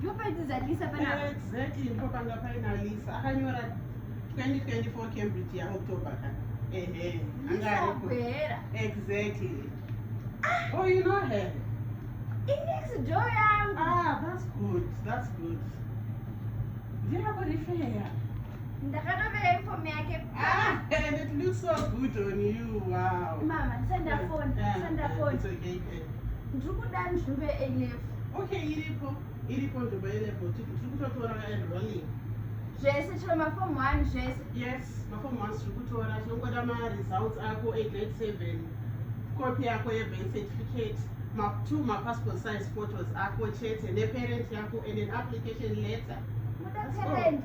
Ndopaitidza Lisa pana. Exactly, ndipo panga paina Lisa. Akanyora 2024 Cambridge ya October ka. Ehe. Lisa Bwera. Exactly. Ah. Oh, you know her. In next door yangu. Ah, that's good. That's good. Ndira kurifeya. Ndakatopera inform yake. Ah, and it looks so good on you. Wow. Mama, send a phone. Yeah, send a phone. It's okay. Ndiri kuda nzvimbo A level. Okay, iripo. Iripo nzvimbo A level. Tiri kutotora enrolling. Zvese chero maform 1 zvese. Yes, maform 1 tiri kutora. Tinongoda ma results ako 8 grade 7. Copy yako ye birth certificate. Ma two ma passport size photos ako chete ne parent yako and an application letter. Muda parent.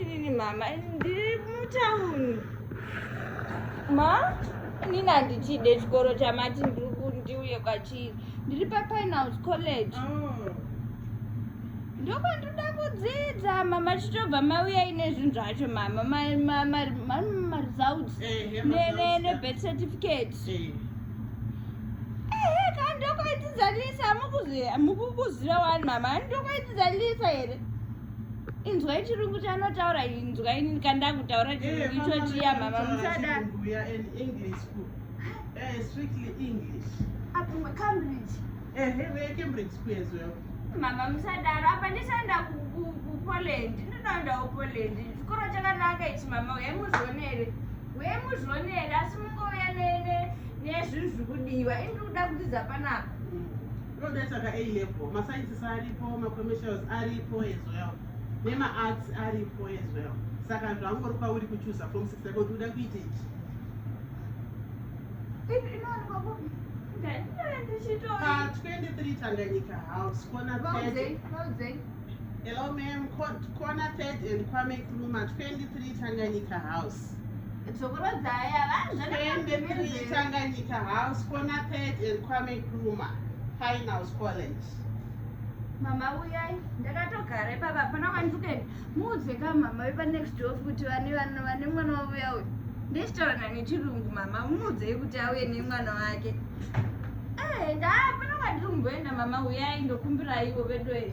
inini mama ndiri mutauni ma inini handichide chikoro chamati ndiri kundiuye kwachiri ndiri papinehouse college oh. ndokwandinoda kudzidza mama chitobva mauya ine zvinhu zvacho mama maresults eh, nebirth certificate eh. ndokwaidzidza lisa mukukuziva wani mama ndokwaidzidza lisa here inzwai chirungu chanotaura inzwai nini kandakutaura eh, chirungu icho chiya mama musada mama musadaro apa ndisaenda kupoland ndinoendawo poland chikoro chakanaka ichi mama uye muzvionere uye muzvionere asi mungouya nezvinhu zviri kudiwa ini ndiri kuda kudzidza panapa Ndodaisa ka A level, ma sciences aripo, ma commercials aripo as well. Nema arts aripo as well. Saka zvangori kwauri kuchuza form 6 yako kuti uda kuita ichi. Ipi inowanikwa kupi? Pa 23 Tanganyika House, corner 30. Hello ma'am, corner 30 and Kwame Nkrumah, 23 Tanganyika House. Tanganyika House, Kona Pet and Kwame Nkrumah Fine House College. mama uyai ndakatogara ipapa hapana kwandiri kuenda muudze ka mama vepanext of kuti vane vana vane mwana wavo yawe ndichitaura nani chirungu mama umuudzei kuti auye nemwana wake eh, ndaapana kwandiri kumboenda mama uyai ndokumbiraiwo vedoe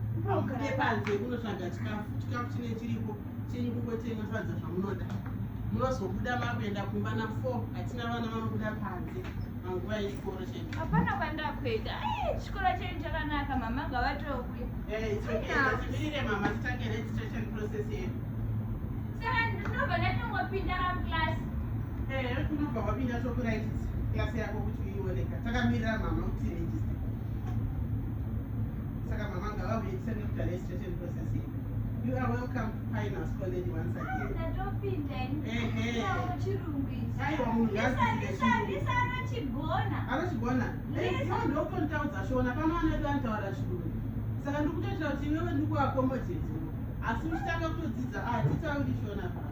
Mukauke panze munotsvaga chikafu, chikafu chine chiripo chenyu kungotenga sadza zvamunoda. Munozobuda makuenda kumba na 4 hatina vana vanobuda panze panguva yechikoro chedu. Hapana kwandakuenda. Eh, chikoro chedu chakanaka mama ngavatouye. Eh, it's okay. Timirire mama titange registration process yedu. Saka ndinobva ndatongopinda ka class. Eh, unobva wapinda tokurayitisa class yako kuti uioneka. Takamirira mama kuti register. saka mama ngavauye tisanekuti ane situation processing you are welcome to finance college once again aiwa munhu yaziianachigona ndokutotaudza shona pano anoita anotaura chirungu saka ndikutoitira kuti iwewe ndikuakomojeti asi uchitanga kutodzidza atitauri shona paa